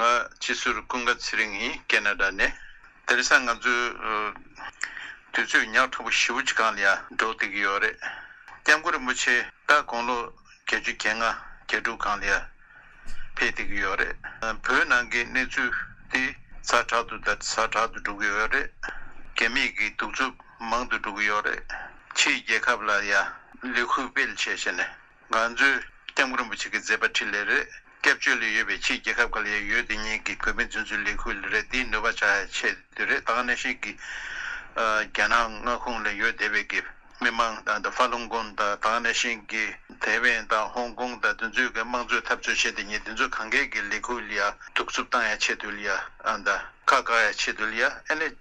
ང་སྤྱི་ཟུར་ཀུན་དགའ་ཚེ་རིང་ཡིན་ཀེ་ན་ད་ནས། དེ་རེས་ང་ཚོའི་དུས་ཚོད་ཉག་ཕྲ་པོ་བཞི་བོ་ཅི་གང་ལ་ཡང་འགྲོ་བསྡད་ཀྱི་ཡོད་རེད། སྐྱབས་མགོན་རིན་པོ་ཆེ་ད་དགུང་ལོ་བརྒྱད་ཅུ་གྱེས་ང་བརྒྱད་དྲུག་གང་ལ་ཡང་ཕེབས་བསྡད་ཀྱི་ཡོད་རེད། བོད་ནང་གི་གནས་ཚུལ་དེ་ཟ་དྲག་ཏུ་དར་ཟ་དྲག་ཏུ་འགྲོ་གི་ཡོད་རེད། གད་མེད་ཀྱི་གདུག་རྩུབ་མང་དུ་འགྲོ་གི་ཡོད་རེད། ཕྱིའི་རྒྱལ་ཁབ་ལ་ཡང་ལས་ཁུར་སྤེལ་བྱས་བྱས་ནས། ང་ཚོས ྋསྐྱབས་མགོན་རིན་པོ་ཆེ་གི་མཛད་པ་ཁྲི་ལས་རེར་སྐྱབས་བཅོལ་ལས་ཡོལ་བའི་ཕྱིར་རྒྱལ་ཁབ་ག་ལ་ཡང་ཡོད་དེ་གཉིས་ཀྱི་གོ་མིན་རྫུན་བཟོའི་ལས་ཁུར་ལས་རེར་དེའི་ནུས་པ་ཆགས་ཆེད་དུ་རེད་ད་གནས་ཤིག་གི་རྒྱ་ནག་མངའ་ཁོངས་ལས་ཡོལ་དེ་བས་ཀྱི་མི་མང་དང་ཧྥ་ལུང་གོན་དང་ད་གནས་ཤིག་གི་ཐའེ་ཝན་དང་ཧོང་ཀོང་དང་དུ་འཛུལ་གྱི་དམངས་གཙོའི་འཐབ་རྩོད་བྱེད་དེ་གཉིས་དུ་འཛུལ་གང་མཁས་ཀྱི་ལས་ཁུར་ལ་ཡ་གཏུགས་རྩུབ་བཏང་ཡ་ཆེད་དུ་ལ་ཡ་ཁ་བཀག་ཡ་ཆེད་དུ་ལ་ཡ་ཨེ་ལས།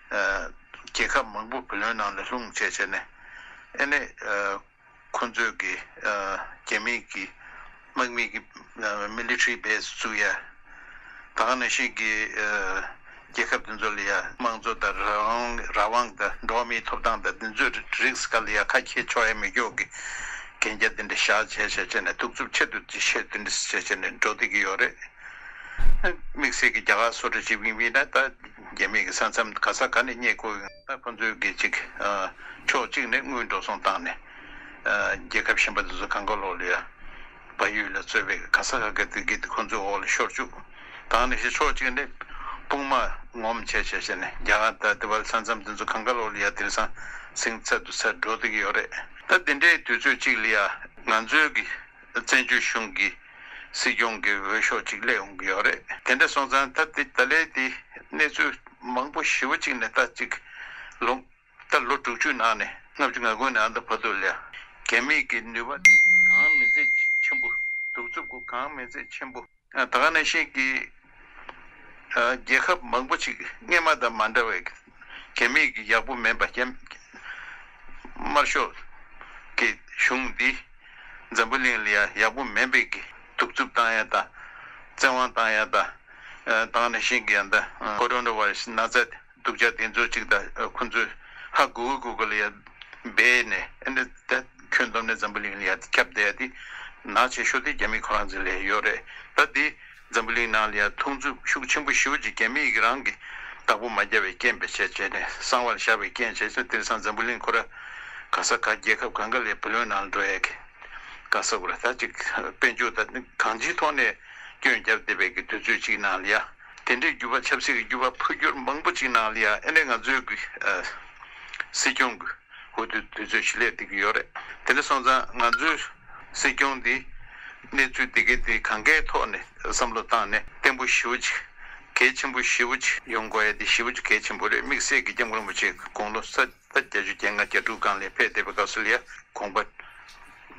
རྒྱལ་ཁབ་མང་པོ་བུ་ལོན་ནང་ལ་ལྷུང་བཅས་བྱས་ནས་ཨེ་ནས་ཁོ་ཚོས་ཀྱི་རྒྱ་མིས་ཀྱི་དམག་མི་ཀྱི Military Base བཙུགས་ཡ། ད་ག་ནས་ཤིག་གི་རྒྱལ་ཁབ་དེ་ཚོ་ལ་ཡ་དམངས་གཙོ་དང་རང་དབང་དང་འགྲོ་བ་མིའི་ཐོབ་ཐང་དང་དེ་ཚོའི་རིགས་ག་ལ་ཡ་ཁ་ཁྱེར་ཆོག་ཡ་མི་ཆོག་གི་གན་རྒྱ་དེ་འདྲ་བཞག་བྱས་བྱས་བྱས་ནས་གདུག་རྩུབ་ཆེད་དུ་དེ་བྱས་དེ་འདྲ་བྱས་བྱས་ནས་འགྲོ་བསྡད་ཀྱི་ཡོད་རེད། དམིགས་བསལ་གྱི་རྒྱ་གར་སོ་ཏྲ་ཇི་བིང་བིང་ན་ད། རྒྱ་མིས་ས་མཚམས་ག་ས་ག་ནས་རྙེད་དགོས་ཡིན་ན་ཁོང་ཚོའི་གེགས་གཅིག། ཕྱོགས་གཅིག་ནས་དངུལ་འགྲོ་སོང་བཏང་ནས། རྒྱལ་ཁབ་གཞན་པ་དེ་ཚོ་གང་ག་ལོག་ལོས་ཡ། བ་ཡུལ་ལ་རྩོད་པའི་ག་ས་ག་གེ་དེ་གེ་དེ་ཁོང་ཚོའི་འོག་ལ་ཤོར་བཅུག་དང་ནི་ཞེས་ཕྱོགས་གཅིག་ནས་དཔུང་མ་ངོམ་བྱས་བྱས་བྱས་ནས་རྒྱ་གར་ད་ལྟའི་བར་ས་མཚམས་དེ་ཚོ་གང་ག་ལོག་ལོས་ཡ་དེར་ཟང་ཟིང་ཚད་དུ་ཚད་འགྲོ་སྡོད་ཀྱི་ཡོད་རེད། ད་དེ་འདྲའི་དུས་ཚོད་ཅིག་ལ་ཡ། ང་ཚོའི་གི། བཙན་བྱོལ་གཞུང་གི་སྲིད་སྐྱོང་གི་འོས་ཤོག་ཅིག་སླེབས་ཡོང་གི་ཡོད་རེད། དེ་འདྲ་སོང་ཙང་ད་དེ་ད་ལས་དེ་གནས་ཚུལ་མང་པོ་ཞི་བོ་གཅིག་ནས་ལྟ་གཅིག་ལོངས། ད་ལོ་དྲུག་ཅུའི་ནང་ནས་ལྔ་བཅུ་ང་དགུ་ནས་ཨ་མདོ་ཕ་དུ་ལས་རྒྱ་མིས་ཀྱི་ནུས་པ་དེ་གང་མི་མཛད་ཆེན་པོ་གདུག་རྩུབ་སྒོ་གང་མི་མཛད་ཆེན་པོ། ད་ག་ནས་ཤེས་ཀྱི། རྒྱལ་ཁབ་མང་པོ་ཅིག་སྔས་མ་དང་མ་འདྲ་བའི་གད་མིག་གི་ཡག་པོ་མེད་པ་རྐྱེན། དམར་ཤོག་གི་གཞུང་འདི་འཛམ་བུ་གླིང་ལ་ཡང་ཡག་པོ་མེད་པའི་གི་གདུག་རྩུབ་བཏང་ཡ་དང་བཙན་དབང་བཏང་ཡ་དང། ད་ག་ནས་ཤེས་ཀྱི་ཡ་འདི། Coronavirus ནགས་ཚལ་བསྒྲུབ་བྱ་དེ་ཚོ་གཅིག་དང་ཁོ་ཚོས་ཧ་གོ་གོ་གོ་གོ་ལ་ཡར་སྦས་ནས་ཨེ་འདྲ་ད་ཁྱོད་འདོམས་ནས་འཛམ་བུ་གླིང་ལ་ཡར་ཁྱབ་བསྡད་ཡ་དེ་ནག་ཆེ་ཤོས་དེ་རྒྱ་མི་ཁོ་རང་ཚོའི་ལས་ཡོད་རེད་ད་དེ་འཛམ་བུ་གླིང་ནང་ལ་ཡར་ཐོང་རྩུབ་ཤུགས་ཆེན་པོ་ཤོས་ཀྱི་རྒྱ་མི་ཡིག་རང་གི་བདག་པོ་མ་རྒྱ་བའི་རྐྱེན་བེད་སྤྱད་བྱས་ནས་གསང་བར་བཞག་པའི་རྐྱེན་བྱས་ཚོད་དེར་སང་འཛམ་བུ་གླིང་ཁོ་ར་ག་ས་ག་རྒྱལ་ཁབ་གང་ག་ལས་བུ་ལོན་ནང་ལ་འགྲོ་ཡ་གི་ག་ས་གོ་ར་ད་ཅིག་དཔེ་འཇུག་ད་གང་ཅིའི་ཐོག་ནས་སྐྱོན་རྒྱབ་བསྡད་པའི་གི་དུས་ཚོད་ཅིག་ནང་ལ་ཡར། དེ་འདྲའི་འགྱུར་བ་ཆབ་སྲིད་ཀྱི་འགྱུར་བ་འཕོ་འགྱུར་མང་པོ་ཅིག་ནང་ལ་ཡང་ཨེ་འདྲས་ང་ཚོའི་གི་སྲིད་སྐྱོང་གི་འོས་བསྡུ་དུས་ཚོད་ཞིག་སླེབས་བསྡད་ཀྱི་ཡོད་རེད་དེ་འདྲ་སོང་ཙང་ང་ཚོའི་སྲིད་སྐྱོང་འདིས་གནས་ཚུལ་དེ་གའི་དེ་གང་གའི་ཐོག་ནས་བསམ་བློ་བཏང་ནས་བརྟན་པོ་ཞི་བོ་ཅིག་གལ་ཆེན་པོ་ཞི་བོ་ཅིག་ཡོང་དགོས་ཡ་དེ་ཞི་བོ་ཅིག་གལ་ཆེན་པོ་རེད་དམིགས་བསལ་གི་སྐྱབས་མགོན་རིན་པོ་ཆེ་གི་དགུང་ལོ་ས་བརྒྱ་བརྒྱ་ཅུ་བརྒྱད་ང་གྱ་དྲུག་སྒང་ལས་ཕེབས་བསྡད་པའི་སྐབས་སུ་ལ་ཡ་གོང་པ།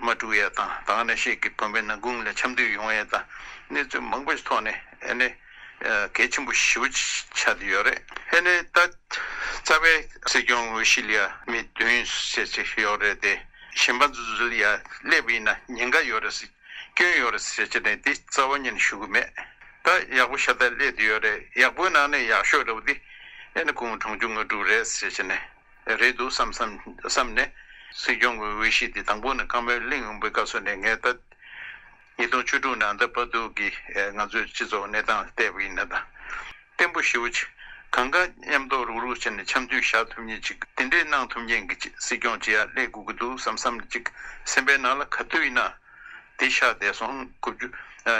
མ་དཀྲུགས་ཡས་དང་དང་ནས་ཤེས་ཀྱི་དོན་བས་ན་དགུང་ལས་འཆམ་དུས་ཡོང་ཡས་དང་གནས་ཚུལ་མང་པོ་ཞིག་ཐོག་ནས་ཨེ་ནས་གལ་ཆེན་པོ་ཞི་བོ་ཆགས་ཀྱི་ཡོད་རེད། ཨེ་ནས་ད་རྩ་བའི་སྲིད་སྐྱོང་དབུ་ཤི་ལ་ཡ་མི་བདུན་ཟེར་ཅི་ཡོད་རེད་དེ་གཞན་པ་ཚོ་ཟུ་ལ་ཡ་སླེབས་ཡིན་ན་ཉེན་ཁ་ཡོད་རེད་སྲིད་སྐྱོན་ཡོད་རེད་ཟེར་ཅི་ནས་དེ་རྩ་བ་ཉིད་ནས་ཞུ་གི་མེད་ད་ཡག་པོ་ཤ་སྟག་སླེབས་ཀྱི་ཡོད་རེད་ཡག་པོའི་ནང་ནས་ཡག་ཤོས་རེད་བ་དེ་ཨེ་ནས་གུང་གྲོང་ཆུང་ངུ་དཀྲུགས་རེད་ཟེར་ཅི་ནས། རེད་འདུག་བསམ་བསམ་བསམ་ནས། སྲིད་སྐྱོང་གི་འོས་གཞི་དེ་དང་པོ་ནི་ཀརྨ་གླིང་དབང་པོའི་བཀའ་ཟུར་ནས་ངས་ད། ཉིས་སྟོང་བཅུ་དྲུག་ནས་ཨ་མདའ་པ་སྡུག་གིས་ང་ཚོའི་སྤྱི་ཚོགས་གནས་སྟངས་བལྟས་པ་ཡིན་ན་ད། བརྟན་པོ་ཞིའོ། གང་དགའ་མཉམ་འདོགས་རུག་རུག་བྱས་ནས་འཆམ་མཐུན་བཞག་ཐུབ་ཉིན་ཅིག་དེ་འདྲས་གནང་ཐུབ་མཁན་གྱི་སྲིད་སྐྱོང་ཅི་ཡང་སླེབས་དགོས་ཀྱི་འདུག་བསམ་བསམ་ནས་ཅིག་སེམས་པའི་ནང་ལ་ག་དུས་ཡིན་ན། དེ་ཤག་བསྡད་སོང།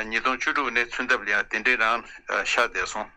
ཉིས་སྟོང་བཅུ་དྲུག་ནས་ཚུན་ཐབས་ལ་ཡང་དེ་འདྲས་རང་ཤག་བསྡད་སོང།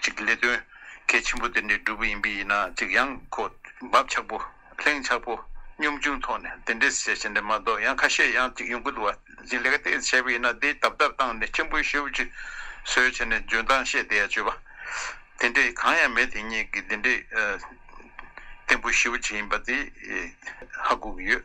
གཅིག་ལས་དོན་གལ་ཆེན་པོ་དེ་འདྲའི་སྒྲུབ་པ་ཡིན་པས་ཡིན་ན་གཅིག་ཡང་གོ། འབབ་ཆགས་པོ། ལྷིང་ཆགས་པོ། གཉོམ་ཆུང་ཐོག་ནས་དེ་འདྲའི་བཤད་བྱ་འདྲ་མ་གཏོགས་ཡང་ཁ་ཤས་ཡང་གཅིག་ཡོང་གི་འདུག་བ། གཅིག་ལས་ཀ་དེ་བྱས་པས་ཡིན་ན་དེ་དབབ་དབབ་བཏང་ནས་ཁྱིམ་པོའི་ཤེའུ་ཅི། ཟོས་བྱས་ནས་འཇོན་ཐང་བཤད་དེ་ཡ་བྱོས་པ། དེ་འདྲའི་གང་ཡང་མེད་དེ་སྙེད་ཀྱི་དེ་འདྲའི། བརྟན་པོའི་ཤེའུ་ཅི་ཡིན་པ་དེ། ཧ་གོ་གི་ཡོད།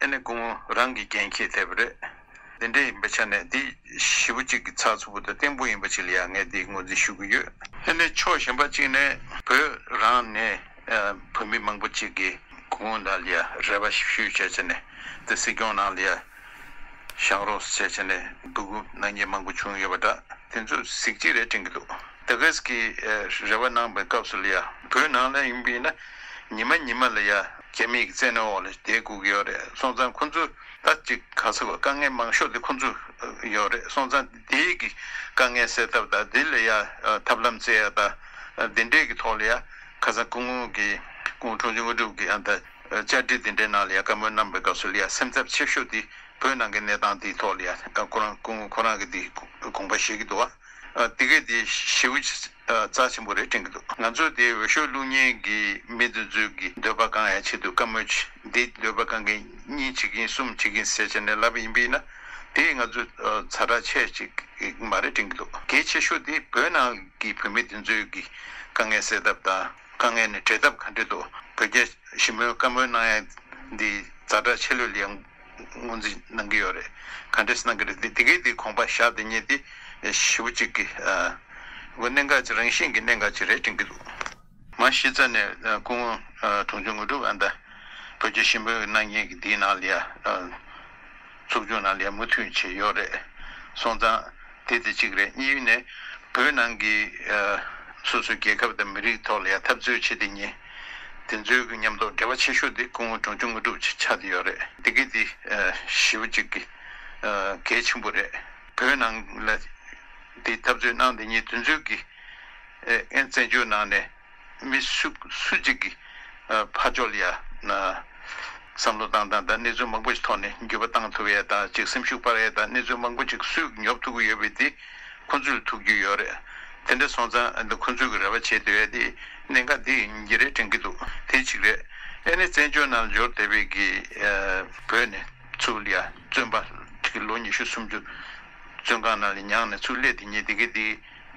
དེ་ནི་སྐུ་ངོ་རང་གིས་རྐྱེན་ཁྱེད་ཐེབས་པ་རེད། དེ་འདྲས་ཡིན་པའི་ཆ་ནས་འདི་བཞི་བོ་གཅིག་གི་ཚགས་ཚུད་པོ་དང་བརྟན་པོ་ཡིན་པ་ཅིག་ལ་ཡང་ངས་འདི་ངོས་འཛིན་ཞུ་གི་ཡོད། དེ་ནི་ཕྱོགས་གཞན་པ་གཅིག་ནས་བོད་རང་ནས་བོད་མི་མང་པོ་གཅིག་གིས་སྐུ་ངོ་ནང་ལ་རེ་བ་ཞིབ་ཞུ་བྱས་ཆ་ནས་དེ་སྲིད་སྐྱོང་ནང་ལ་བཞག་རོགས་སུ་བྱས་ཆ་ནས་སྡུག་གུབ་ནག་ཉེས་མང་པོ་བྱུང་ཡོད་པ་འདྲ་དེ་ཚོ་གཟིགས་ཅི་རེད་དྲན་གི་འདུག། ཏི་ཀིས་ཀྱིས་རེ་བ་གནང་བའི་སྐབས་སུ་ལི་ཡ་བོའི་ནང་ལ་ཡོང་པས་ན་ཉི་མ་ཉི་མ་ལི་ཡ་རྒྱ་མིའི་བཙན་གནོན་འོག་ལ་བསྡད་དགོས་ཀྱི་ཡོད་རེད་སོང་ཙང་ཁོང་ཚོས་ད་ཅིག་ག་ཚོད་དཀའ་ངལ་མང་ཤོས་དེ་ཁོང་ཚོས་ཡོད་རེད་སོང་ཙང་དེ་ཡིག་གི་དཀའ་ངལ་སེལ་ཐབས་དང་དེ་ལི་ཡ་ཐབས་ལམ་བཙལ་ཡ་དང་དེ་འབྲེལ་གྱི་ཐོག་ལི་ཡ་ཁ་སང་སྐུ་ངོ་གིས་སྐུ་ངོ་ཁྲོང་ཆུང་དངོས་གྲུབ་ཀྱིས་ཨ་མདའ་བཅར་འདྲི་དེ་འདྲའི་ནང་ལི་ཡ་བཀའ་མོལ་གནང་བའི་སྐབས་སུ་ལི་ཡ་སེམས་འཚབ་ཆེ་ཤོས་དེ་བོད་ནང་གི་གནས་སྟངས་དེའི་ཐོག་ལི་ཡ་ཁོ་རང་སྐུ་ངོ་ཁོ་རང་གིས་དེ་དགོངས་པ་བཞེས་ཀྱི་འདུག་བ། དེ་གས་དེ་ཞེ་བོ་ཆེ་རྩ་ཆེན་པོ་རེ་སྤྲིང་གི་འདུག་ང་ཚོ་དེ་འོས་ཤོག་བླུག་ཉེན་གི་མི་འདི་ཚོས་གི་འདོད་པ་གང་ཡང་བྱེད་དུ་དཀའ་མོད་ཀྱི་འདི་འདོད་པ་གང་གི་གཉིས་བྱེད་ཀྱིན་གསུམ་བྱེད་ཀྱིན་ཟེར་བྱས་ནས་ལབ་པ་ཡིན་པས་ན་དེས་ང་ཚོ་ཚ་དྲག་ཆེ་ཅིག་མ་རེ་སྤྲིང་གི་འདུག་གལ་ཆེ་ཤོས་དེ་བོད་ནང་གི་བོད་མི་འདི་ཚོས་གི་དཀའ་ངལ་སེལ་ཐབས་དང་དཀའ་ངལ་ནི་བྲལ་ཐབས་ག་འདྲེ་འདུག་བོད་རྒྱ་ཞི་མོལ་བཀའ་མོལ་གནང་ཡང་འདི་ཚ་དྲག་ཆེ་ལོས་ལས་དངོས་འཛིན་གནང་གི་ཡོད་རེད་ག་འདྲེས་གནང་གི་རེད་དེ་གས་དེ་ཁོང་པ་ཞག་དེ་ཉེ་དེ་བཞི་བོ་གཅིག་གི་གོ་གནས་འགའ་ཅི་རང་བཞིན་གི་གནས་འགའ་ཅི་རེ་དྲན་གི་འདུག། མ་གཞི་རྩ་ནས་སྐུ་ངོ་དུང་ཆོས་དངོས་གྲུབ་ཨ་མདའ་བོད་རྒྱ་ཞིམ་པོའི་གནང་སྙན་གི་དེའི་ནང་ལ་ཡ་ཚུགས་ཆུང་ནང་ལ་ཡ་མུ་མཐུད་བྱས་ཡོད་རེད་སོང་ཙང་དེ་དེ་གཅིག་རེད་གཉིས་ནས་བོད་ནང་གི་སོ་སོའི་རྒྱལ་ཁབ་དང་མི་རིགས་ཐོག་ལ་ཡ་འཐབ་རྩོད་བྱེད་དེ་གཉིས། དེ་ཚོའི་གི་ཉམས་རྟོགས་འབྲེལ་བ་ཆེ་ཤོས་དེ་སྐུ་ངོ་གྲོང་ཆུང་དངོས་གྲུབ་ཅིག་ཆགས་དེ་ཡོད་རེད་དེ་གི་དེ་ཞི་བ་ཅིག་གི་གལ་ཆེན་པོ་རེད་བོད་ནང་ལ་དེ་འཐབ་རྩོད་གནང་དེ་ཉིད་དེ་ཚོའི་གི་ཨན་བཙན་བྱོལ་ནང་ནས་མི་སུ་སུ་ཅིག་གི་ཕ་ཅོལ་ཡ་ན་བསམ་བློ་བཏང་དང་དང་གནས་ཚུལ་མང་པོ་ཞིག་ཐོག་ནས་འགྱོད་པ་བཏང་ཐུབ་ཡས་དང་ཅིག་སེམས་ཤུགས་སྤར་ཡས་དང་གནས་ཚུལ་མང་པོ་ཅིག་སུས་གི་ཉོབ་ཐུབ་གི་ཡོད་པའི་དེ་ཁོ་ཚོས་ལ་ཐུབ་རྒྱུ་ཡོད་རེད་དེ་འདྲ་སོང་ཙང་ཁོ་ཚོས་གི་རེ་བ་བྱེད་དེ་ཡོད་དེ། གནད་འགག་འདི་ཉིན་རེ་དྲན་གྱི་འདུག་དེ་གཅིག་རེད། ཨེ་ནི་བཙན་བྱོལ་རྣལ་འབྱོར་དད་པའི་གི། བོད་ནས་ཚུར་ལ་བཙོན་པ་གི་ལོ་ཉི་ཤུ་སུམ་ཅུ། བཙོན་ཁང་ནང་ལས་མྱངས་ནས་ཚུར་སླེབས་དེ་ཉིན་དེ་གི་དེ་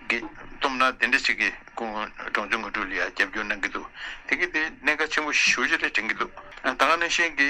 གི། སྟོབས་ན་དེ་འདྲ་ཞིག་གི་སྐུ་ངོ་འབྲོང་ཆུང་ངུ་དྲུག་ལ་ཡང་རྒྱབ་སྐྱོར་གནང་གི་འདུག་དེ་གི་དེ་གནད་འགག་ཆེན་པོ་བཞི་བཞི་རེ་དྲན་གྱི་འདུག་ད་སྔ་ནས་གཞན་གི།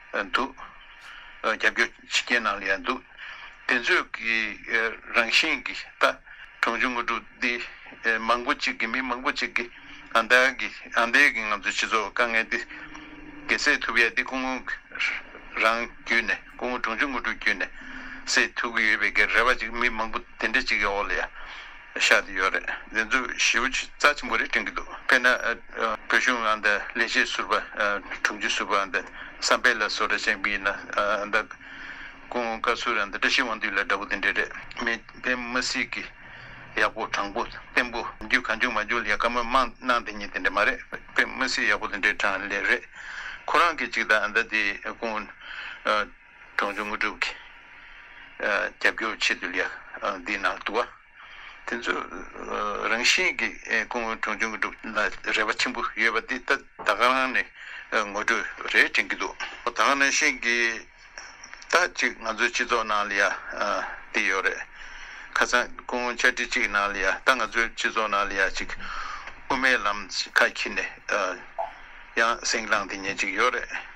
འདུག་རྒྱབ་སྐྱོར་ཕྱི་རྒྱལ་ནང་ལ་ཡང་འདུག་དེ་ཚོས་ཀྱི་རང་བཞིན་གྱི་ད་གྲོང་ཆུང་དངོས་གྲུབ་འདི་མང་པོ་ཅིག་གི་མི་མང་པོ་ཅིག་གི་ཨ་འདའ་གི་ཨ་འདའི་གི་ང་ཚོའི་སྤྱི་ཚོགས་དཀའ་ངལ་འདི་གེ་སེལ་ཐུབ་ཡ་འདི་སྐུ་ངོ་རང་བརྒྱུད་ནས་སྐུ་ངོ་གྲོང་ཆུང་དངོས་གྲུབ་བརྒྱུད་ནས་སེལ་ཐུབ་ཀྱི་ཡོད་པའི་གི་རེ་བ་ཅིག་མི་མང་པོ་དེ་འདྲ་ཅིག་གི་འོག་ལ་ཡ། ཤ་དེ་ཡོད་རེད་དེ་ཚོས་ཞི་བ་ཆུ་རྩ་ཆེན་པོ་རེད་དྲན་གྱི་འདུག་དཔེར་ན། བོད་གཞུང་ལ་འདི་ལས་བྱེད་ཟུར་པ་དྲུང་ཆེ་ཟུར་པ་འདི་བསམ་འཕེལ་ལ་སོགས་ར་ཆེན་པོ་ཡིན་ན་འདི། ཀུན་དགའ་བསུ་ར་འདི་བཀྲ་ཤིས་དབང་འདུས་ལ་འདྲ་པོ་དེ་འདྲས་རེད་མི་ཕན་མི་སྲིད་ཀྱི། ཡག་པོ་དྲང་པོ་བརྟན་པོ་རྒྱུ་གང་བྱུང་མ་བྱུང་ལས་ཀ་མི་མང་གནང་དེ་ཉིད་དེ་འདྲས་མ་རེད་ཕན་མི་སྲིད་ཡག་པོ་དེ་འདྲས་དྲང་ལེ་རེད། ཁོ་རང་གིས་ཅིག་ད་འདི་དེ་ཀུན། གྲོང་ཚོའི་དངོས་གྲུབ་ཀྱི་རྒྱབ་སྐྱོར་ཆེད་དུ་ལས་འདིའི་ནང་དུ་བ་དེ་ཚོ་རང་བཞིན་གྱི་སྐུ་ངོ་གྲོང་ཚོའི་དངོས་གྲུབ་ལ་རེ་བ་ཆེན་པོ་ཡོད་པ་འདི་ལྟ་ད་ག་རང་ནས་ངོ་སྤྲོད་རེ་དྲན་གྱི་འདུག་ད་ག་ནང་བཞིན་གྱི་ལྟ་ཅིག་ང་ཚོའི་སྤྱི་ཚོགས་ནང་ལ་ཡ་འདི་ཡོད་རེད་ཁ་སང་སྐུ་ངོ་བཅར་འདྲི་ཅིག་ནང་ལ་ཡ་ལྟ་ང་ཚོའི་སྤྱི་ཚོགས་ནང་ལ་ཡ་ཅིག་དབུ་མའི་ལམ་ཁ་ཁྱི་ནས་ཡང་སེང་བླངས་འདི་ཉན་ཅིག་ཡོད་རེད།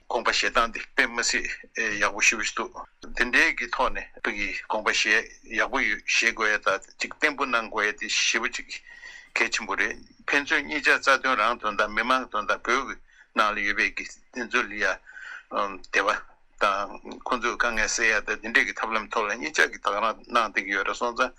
དགོངས་པ་བཞེས་སྟངས་དེ་དཔེ་མི་སྲིད་ཡག་པོ་ཞུ་བཞིན་འདུག་འདི་འདྲའི་གི་ཐོག་ནས་བོད་ཀྱི་དགོངས་པ་བཞེས་ཡག་པོ་ཡོད་བཞེས་དགོས་ཡ་ད་ཅིག་བརྟན་པོ་གནང་དགོས་ཡ་དེ་ཞེ་པོ་ཅིག་གལ་ཆེན་པོ་རེད་ཕན་ཚུན་གཉིས་ཆ་རྩ་དོན་རང་དོན་དང་མི་མང་དོན་དང་བོད་ཀྱི་ནང་ལ་ཡོད་པའི་གི་བདེན་རྫུན་ལི་ཡ་དེ་བ་དང་ཁོང་ཚོས་དཀའ་ངལ་སེལ་ཡ་ད་དེ་འདྲའི་གི་ཐབས་ལམ་ཐོག་ལ་གཉིས་ཆ་གི་དག་རང་གནང་དེ་གི་ཡོད་ར་སོང་ཙང་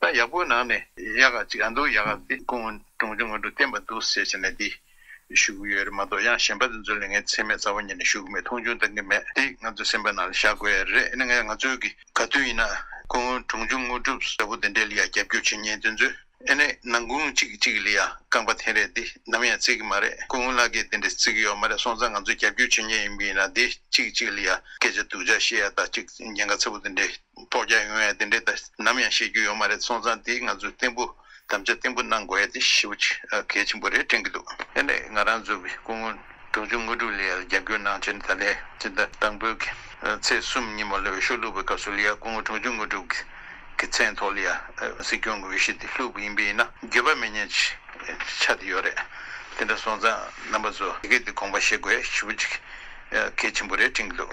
ད་ཡག་པོའི་ནང་ནས་ཡག་ག་ཅིག་འདུག་ཡག་ག་དེ་ཀུན་གྲོང་ཆུང་ངོ་དྲུག་བསྟན་པ་འདུག་ཟེར་བྱས་ནས་འདི་ཞུ་གི་ཡོད་རེད་མ་གཏོགས་ཡང་གཞན་པ་དེ་ཚོ་ལས་ངའི་ཚེ་སྨད་རྩ་བ་ཉིད་ནས་ཞུ་གི་མེད་མཐོང་ཆུང་གཏང་གི་མེད་དེ་ང་ཚོའི་སེམས་པ་ནང་ལ་བཞག་དགོས་ཡ་རེད་ང་ང་ཚོའི་གི་ག་དུས་ཡིན་ན་ཀུན་གྲོང་ཆུང་ངོ་དྲུག་ཟེར་བོ་དེ་འདྲའི་ལ་ཡང་རྒྱབ་སྐྱོར་བྱེད་ཉེན་དེ་ཚོས་ཨེ་ནས་ནང་ཀུན་གཅིག་གི་གཅིག་གི་ལ་ཡང་རྐང་པ་འཐེན་རེས་དེ་ནམ་ཡང་བརྩི་གི་མ་རེད་ཀུན་ལ་སྐད་དེ་འདྲའི་བརྩི་གི་ཡོད་མ་རེད་སོང་ཙང་ང་ཚོས་རྒྱབ་སྐྱོར་བྱེད་ཉེན་ཡིན་པ་ཡིན་ན་དེ་གཅིག་གི་གཅིག་གི་ལ་ཡང་སྐད་ཆ་སྡུག་ཅག་བཤད་ཡ་ད་གཅིག་ཉེན་ཁ་ཚ་བོ་དེ་འདྲའི། ཐོག་རྒྱག་ཡོང་ཡ་དེ་འདྲའི་ད་ནམ་ཡང་ཤེས་རྒྱུ་ཡོད་མ་རེད་སོང་ཙང་དེ་ང་ཚོའི་བརྟན་པོ་དམ་བཅའ་བརྟན་པོ་གནང་དགོས་ཡ་དེ་ཤི་བོ་གལ་ཆེན་པོ་རེད་དྲན་གི་འདུག། དེ་ནས་ང་རང་འཛུགས་པའི་སྐུ་ངོ་འབྲོང་ཆུང་དངོས་གྲུབ་ལི་ཡ་ལ་རྒྱབ་སྐྱོར་གནང་ཕྱིར་ད་ལས་ཅི་ད་དང་པོའི་གི་ཚེས་གསུམ་ཉིན་མོ་ལི་བའི་ཤོག་ལྷུག་པའི་སྐབས་སུ་ལི་ཡ་སྐུ་ངོ་འབྲོང་ཆུང་དངོས་གྲུབ་གི་གི་མཚན་ཐོག་ལི་ཡ་སྲིད་སྐྱོང་གི་འོས་གཞི་དེ་ལྷུག་པ་ཡིན་པས་ཡིན་ན་འགྱོད་པ་མི་ཉན་ཅི་ཆ་དེ་ཡོད་རེད་དེ་འདྲ་སོང་ཙང་རྣམ་པ་ཚོ་དེ་གས་དེ་དགོངས་པ་བཞེས་དགོས་ཡ་ཤི་བོ་གལ་ཆེན་པོ་རེད་དྲན་གི་འདུག།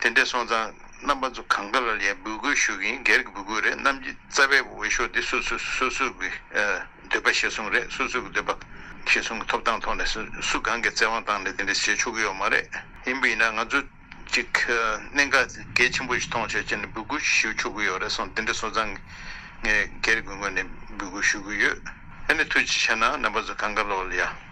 དེ་འདྲས་སོང་ཙང་རྣམ་པ་ཚོ་གང་ག་ལ་ལའི་འབུལ་སྐུལ་ཞུ་གིན་སྒེར་གྱི་འབུལ་སྐུལ་རེད་གནམ་གྱི་རྩ་བའི་འོས་ཤོག་འདི་སོ་སོས་སོ་སོས་ཀྱི་འདོད་པ་ཞེ་སོང་རེད་སོ་སོས་ཀྱི་འདོད་པ་ཞེ་སོང་གི་ཐོབ་ཐང་ཐོག་ནས་སུ་གང་གི་བཙན་དབང་བཏང་ནས་དེ་འདྲས་བྱེད་ཆོག་གི་ཡོད་མ་རེད་ཡིན་པ་ཡིན་ན་ང་ཚོ་གཅིག་གནད་འགག་གལ་ཆེན་པོ་ཞིག་མཐོང་ཆོག་བྱས་ནས་འབུལ་སྐུལ་ཞུ་ཆོག་གི་ཡོད་རེད་སོང་དེ་འདྲས་སོང་ཙང་ངས་སྒེར་གྱི་ངོས་ནས་འབུལ་སྐུལ་ཞུ་གི་ཡོད་ཨ་ནི་ཐུགས་རྗེ་ཆེ་ནང་རྣམ་པ་ཚོ་གང་ག་ལ་ལའི།